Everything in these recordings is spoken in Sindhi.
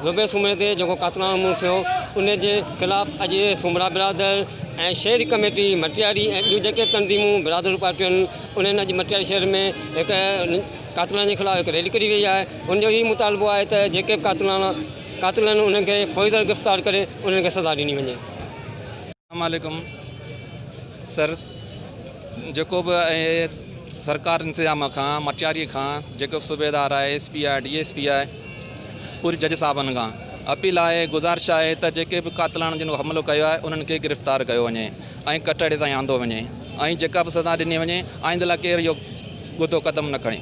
زبير سومري تي جيڪو قاتلاڻو حملو ٿيو ان جي خلاف اڄ سومرا برادر ۽ شهري ڪميٽي مٽياري ۽ ٻيون جيڪي تنظيمون برادرون پارٽيون آهن انهن اڄ مٽياري شهر ۾ هڪ قاتلن جي خلاف هڪ ريلي ڪڍي وئي آهي ان جو هي مطالبو آهي ته جيڪي به قاتلاڻا قاتل آهن انهن کي فوري طور گرفتار ڪري انهن کي سزا ڏني وڃي. اسلام عليڪم سر جيڪو به سرڪار انتظام کان مٽياري کان جيڪو به صوبيدار آهي ايس پي آهي ڊي ايس پي آهي پوري جج صاحبن کان اپيل آهي گذارش آهي ته جيڪي به قاتلان جن حملو ڪيو آهي انهن کي گرفتار ڪيو وڃي ۽ ڪٽهڙي تائين آندو وڃي ۽ جيڪا به سزا ڏني وڃي آئنده لاء ڪير اهو ڳڌو قدم نه کڻي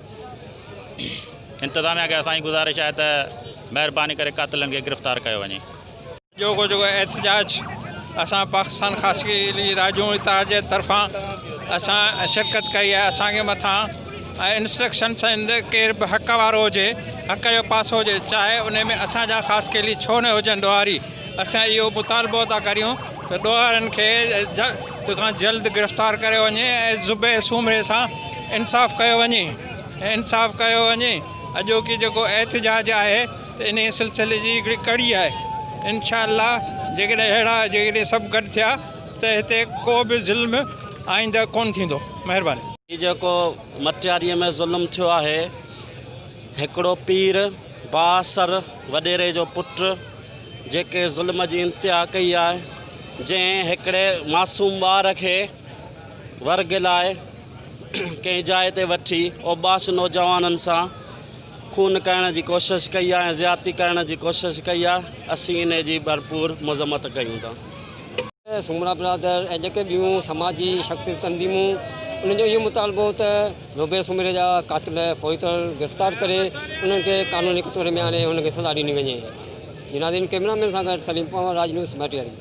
انتظاميا کي اسان جي گذارش آهي ته مهرباني ڪري قاتلن کي گرفتار ڪيو وڃي. اڄوڪو جيڪو احتجاج اسان پاڪستان خاصي علي راڄون اتحاد جي طرفان اسان شرڪت ڪئي آهي اسان کي مٿان انسٽرڪشن سند ڪير به حق وارو هجي حق جو پاسو هجي چاهي ان ۾ اسان جا خاصي علي ڇو نه هجن ڏوهاري اسان اهو مطالبو ٿا ڪريون ته ڏوهارين کي جلد کان جلد گرفتار ڪريو وڃي ۽ زبير سومري سان انصاف ڪيو وڃي انصاف ڪيو وڃي اڄوڪي جيڪو احتجاج آهي ته انهي سلسلي جي هڪڙي ڪڙي آهي انشاء الله جيڪڏهن اهڙا جيڪڏهن سڀ گڏ ٿيا ته هتي ڪو به ظلم آئنده ڪون ٿيندو مهرباني. هي جيڪو مٽياريء ۾ ظلم ٿيو آهي هڪڙو پير. بااثر وڏيري جو پٽ جيڪي ظلم جي انتها ڪئي آهي جنهن هڪڙي معصوم ٻار کي ورگ لاء ڪنهن جاء تي وٺي اوٻاش نوجوانن سان خون ڪرڻ جي ڪوشش ڪئي آهي ۽ زيادتي ڪرڻ جي ڪوشش ڪئي آهي اسين انهي جي ڀرپور مذمت ڪيون ٿا. سومرا برادر ۽ جيڪي ٻيون سماجي شخصيت تنظيمون انهن جو اهو مطالبو هو ته. روبيل سومري جا قاتل فوري طور گرفتار ڪري انهن کي قانوني ڪٽهڙي ۾ آڻي انهن کي سزا ڏني وڃي. جناز اينڊ ڪيمرا مين سان گڏ سليم پنهور راج نيوز مٽياري.